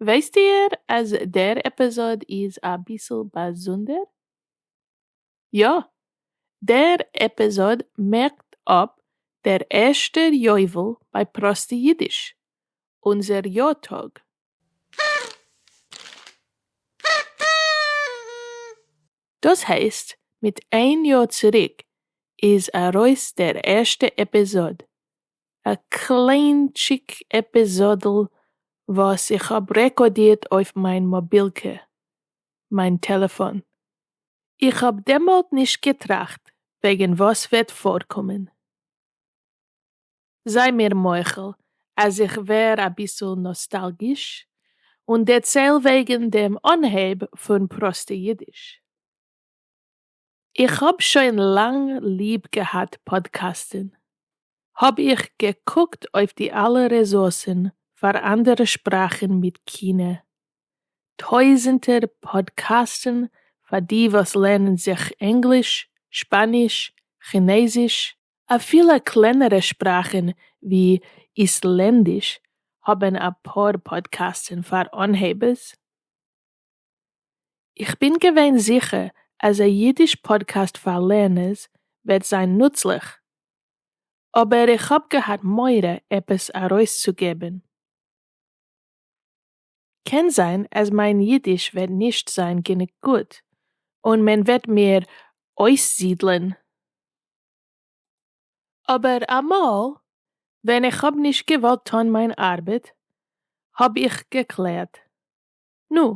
ווייסט איהר אז דער עפיזאד איז אביסל באזונדער? יא! דער עפיזאד מערקט אפ דער ערשטער יובל ביי פראסטע אידיש, אונזער יא טאג. דאס הייסט מיט איין יאר צוריק איז ארויס דער ערשטע עפיזאד, א קליינטשיק עפיזאדל וואס איך האב רעקארדירט אויף מיין מאבילקע, מיין טעלעפאן. איך האב דעמאלט נישט געטראכט וועגן וואס וועט פארקומען. זיי מיר מוחל אז איך ווער אביסל נאסטאלגיש און דערצייל וועגן דעם אנהייב פון פראסטע אידיש. איך האב שוין לאנג ליב געהאט פאדקעסטן, האב איך געקוקט אויף די אלע רעסורסן פאר אנדערע שפראכן מיט כינע, טויזענטער פאדקעסטן פאר די וואס לערנען זיך ענגליש, שפאניש, כינעזיש, אפילו קלענערע שפראכן ווי איסלענדיש האבן אפאר פאדקעסטן פאר אנהייבערס, איך בין געווען זיכער אז א אידיש פאדקעסט פאר לערנערס וועט זיין נוצליך, אבער איך האב געהאט מורא עפעס ארויסצוגעבן. קען זיין אז מיין אידיש וועט נישט זיין גענוג גוט און מען וועט מיר אויסזידלען. אבער אמאל ווען איך האב נישט געוואלט טון מיין ארבעט האב איך געקלערט נו,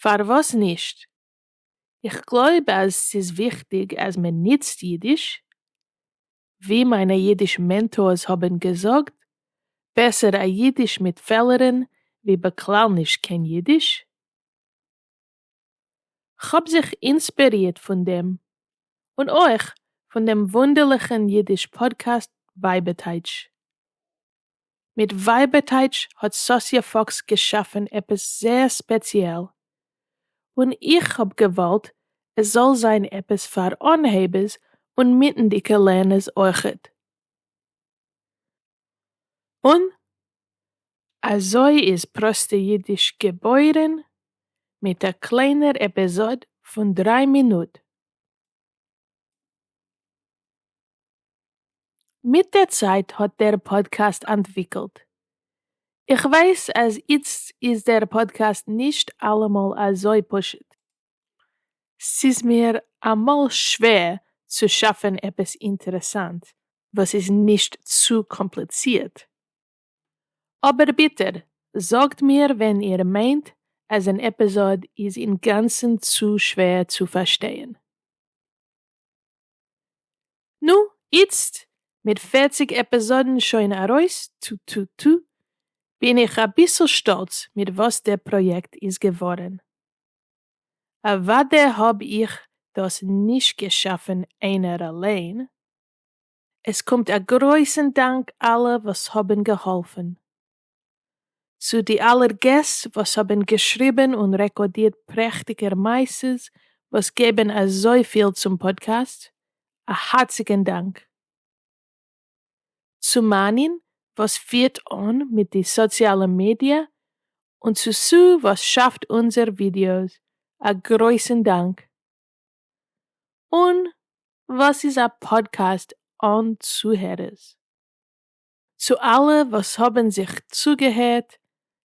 פארוואס נישט? איך גלויב אז ס'איז וויכטיג אז מען נוצט אידיש, ווי מיינע אידיש מענטארס האבן געזאגט, בעסער א אידיש מיט פעלערן ווי בכלל נישט קיין אידיש. כ'האב זיך אינספערירט פון דעם, און אויך פון דעם וואונדערליכן אידיש פאדקעסט בייבעטייטש. מיט ווייבערטייטש האט סאסיע פאקס געשאפן עפעס זעהר ספעציעל, און איך האב געוואלט עס זאל זיין עפעס פאר אנהייבערס און מיטנדיגע לערנערס אויכעט. און אזוי איז פראסטע אידיש געבוירן, מיט א קליינער עפיזאד פון דריי מינוט. מיט די צייט האט דער פאדקעסט אנטוויקלט. איך ווייס אז איצט איז דער פאדקעסט נישט אלעמאל אזוי פשוט. ס'איז מיר אמאל שווער צו שאפן עפעס אינטערעסאנט וואס איז נישט צו קאמפליצירט. אבער ביטע זאגט מיר ווען איר מיינט אז אן עפיזאד איז אינגאנצן צו שווער צו פארשטייען. נו, איצט, מיט פֿערציק עפּיזאָדן שוין אַרויס, טו-טו-טו, בין איך אַ ביסל שטאָלץ מיט וואָס דער פּראָיעקט איז געוואָרן. אַוודאי האָב איך דאָס נישט געשאַפֿן איינער אַליין. עס קומט אַ גרויסן דאַנק אַלע וואָס האָבן געהאָלפֿן. צו די אלער געסט וואס האבן געשריבן און רעקאדירט פרעכטיגער מעשות וואס געבן אזויפיל צום פאדקעסט, א הארציגן דאנק. צו מענין וואס פירט אן מיט די סאציאלע מידיא, און צו סו וואס שאפט אונזער ווידיאוס, א גרויסן דאנק. און וואס איז א פאדקעסט אן צוהערערס? צו אלע וואס האבן זיך צוגעהערט,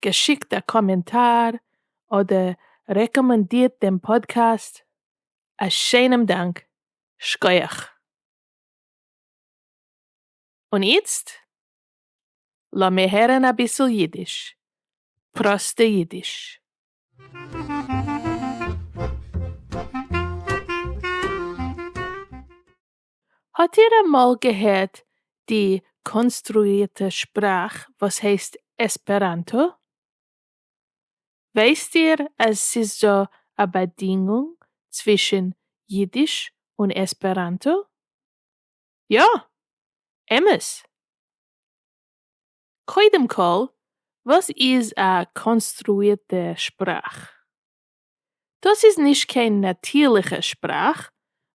געשיקט א קאמענטאר, אדער רעקאמאנדירט דעם פאדקעסט, א שיינעם דאנק, שקויעך. און איצט לאמיר הערן אביסל אידיש, פראסטע אידיש. האט איר אמאל געהערט די קאנסטרוירטע שפראך וואס הייסט עספעראנטא? ווייסט איר אז ס'איז דא א באדינגונג צווישן אידיש און עספעראנטא? יא! אמת! קודם כל, וואס איז א קאנסטרוירטע שפראך? דאס איז נישט קיין נאטירליכע שפראך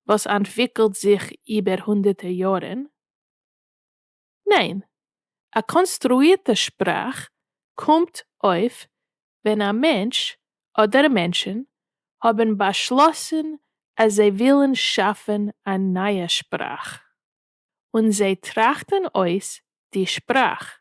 וואס אנטוויקלט זיך איבער הונדערטער יארן. ניין, א קאנסטרואירטע שפראך קומט אויף ווען א מענטש אדער מענטשן האבן באשלאסן אז זיי ווילן שאפן א נייע שפראך, און זיי טראכטן אויס די שפראך,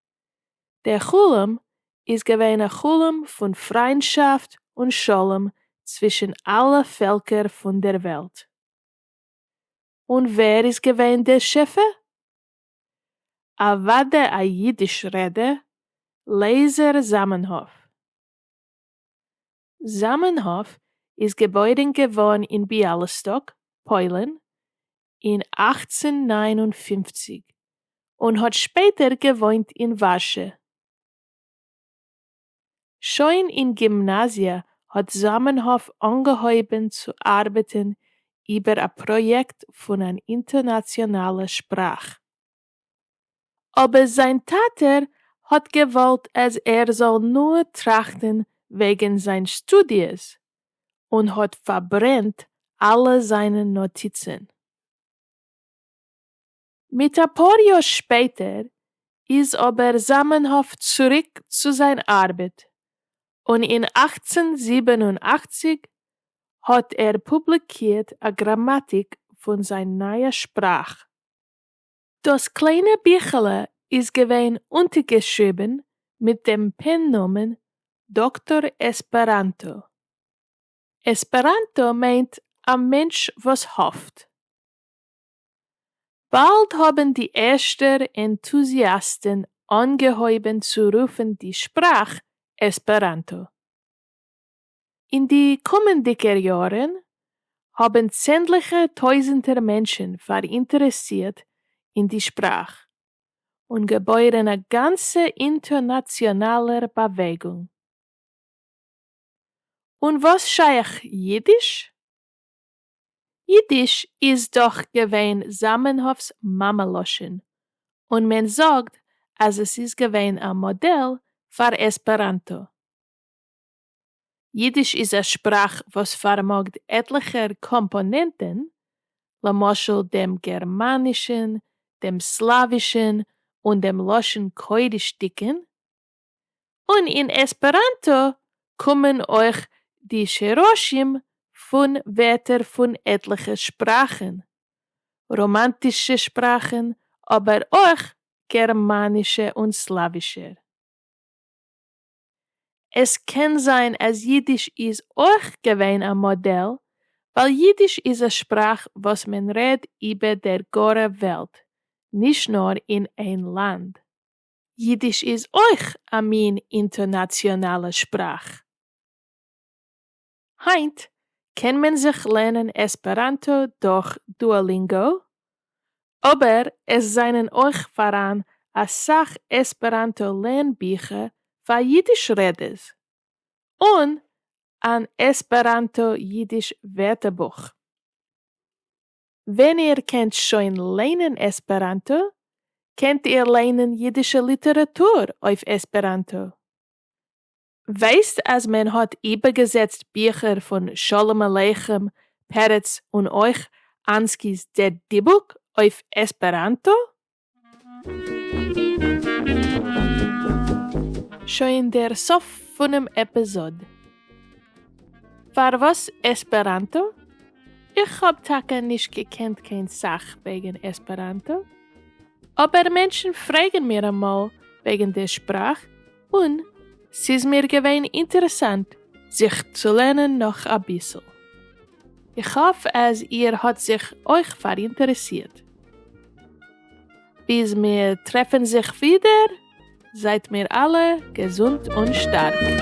דער חלום איז געווען א חלום פון פריינדשאפט און שלום צווישן אלע פעלקער פון דער וועלט. און ווער איז געווען דער שפע? אוודאי א אידיש רעדער, לעזער זאמענהאף. זאמענהאף איז געבוירן געווארן אין ביאליסטאק, פוילן, אין אַכצן נײַן און פֿופֿציק, און האט שפעטער געוואוינט אין ווארשע. שוין אין גימנאזיע האט זאמענהאף אנגעהויבן צו ארבעטן איבער א פראיעקט פון אן אינטערנאציאנאלע שפראך. אבער זיין טאטער האט געוואלט אז ער זאל נאר טראכטן וועגן זיין שטודיעס, און האט פארברענט אלע זיינע נאטיצן. מיט אפאר יאר שפעטער איז אבער זאמענהאף צוריק צו זיין ארבעט, און אין אַכצן זיבן און אַכציק האט ער פובליקירט א גראמאטיק פון זיין נייע שפראך. דאָס קליינע ביכעלע איז געווען אונטערגעשריבן מיט דעם פּען-נאָמען דאָקטאָר עספּעראַנטאָ. עספּעראַנטאָ מיינט אַ מענטש וואָס האָפט. באַלד האָבן די ערשטע ענטוזיאַסטן אָנגעהויבן צו רופן די שפּראַך עספּעראַנטאָ. אין די קומענדיגער יארן האבן צענדליכע טויזנטער מענטשן פאראינטערעסירט אין די שפראך, און געבוירן א גאנצע אינטערנאציאנאלער באוועגונג. און וואס שייך יידיש? יידיש איז דאך געווען זאמענהאפ'ס מאמע-לשון, און מען זאגט אז עס איז געווען א מאדעל פאר עספעראנטא. ייִדיש איז אַ שפּראַך וואָס פֿאַרמאָגט עטלעכער קאָמפּאָנענטן, למשל דעם גערמאַנישן, דעם סלאַווישן און דעם לשון-קודשדיקן, און אין עספּעראַנטאָ קומען אויך די שרשים פֿון ווערטער פֿון עטלעכע שפּראַכן, ראָמאַנטישע שפּראַכן, אָבער אויך גערמאַנישע און סלאַווישער. עס קען זיין אז אידיש איז אויך געווען א מאדעל, ווייל אידיש איז א שפראך וואס מען רעד איבער דער גארע וועלט, נישט נאר אין איין לאנד. אידיש איז אויך א מין אינטערנאציאנאלע שפראך. היינט קען מען זיך לערנען עספעראנטא דורך דואלינגא, אבער עס זענען אויך פאראן אסאך עספעראנטא לערן ביכער פאר אידיש רעדערס, און אן עספעראנטא אידיש ווערטערבוך. ווען איר קענט שוין ליינען עספעראנטא, קענט איר ליינען אידישע ליטעראטור אויף עספעראנטא. ווייסט אז מען האט איבערגעזעצט ביכער פון שלום עליכם, פרץ און אויך אנסקי'ס דער דיבוק אויף עספעראנטא? שוין דער סוף פונעם עפיזאד. פארוואס עספעראנטא? איך האב טאקע נישט געקענט קיין סאך וועגן עספעראנטא, אבער מענטשן פרעגן מיר אמאל וועגן דער שפראך, און ס'איז מיר געווען אינטערעסאנט זיך צו לערנען נאך אביסל. איך האף אז איר האט זיך אויך פאראינטערעסירט. ביז מיר טרעפן זיך ווידער, זייט מיר אלע געזונט און שטארק.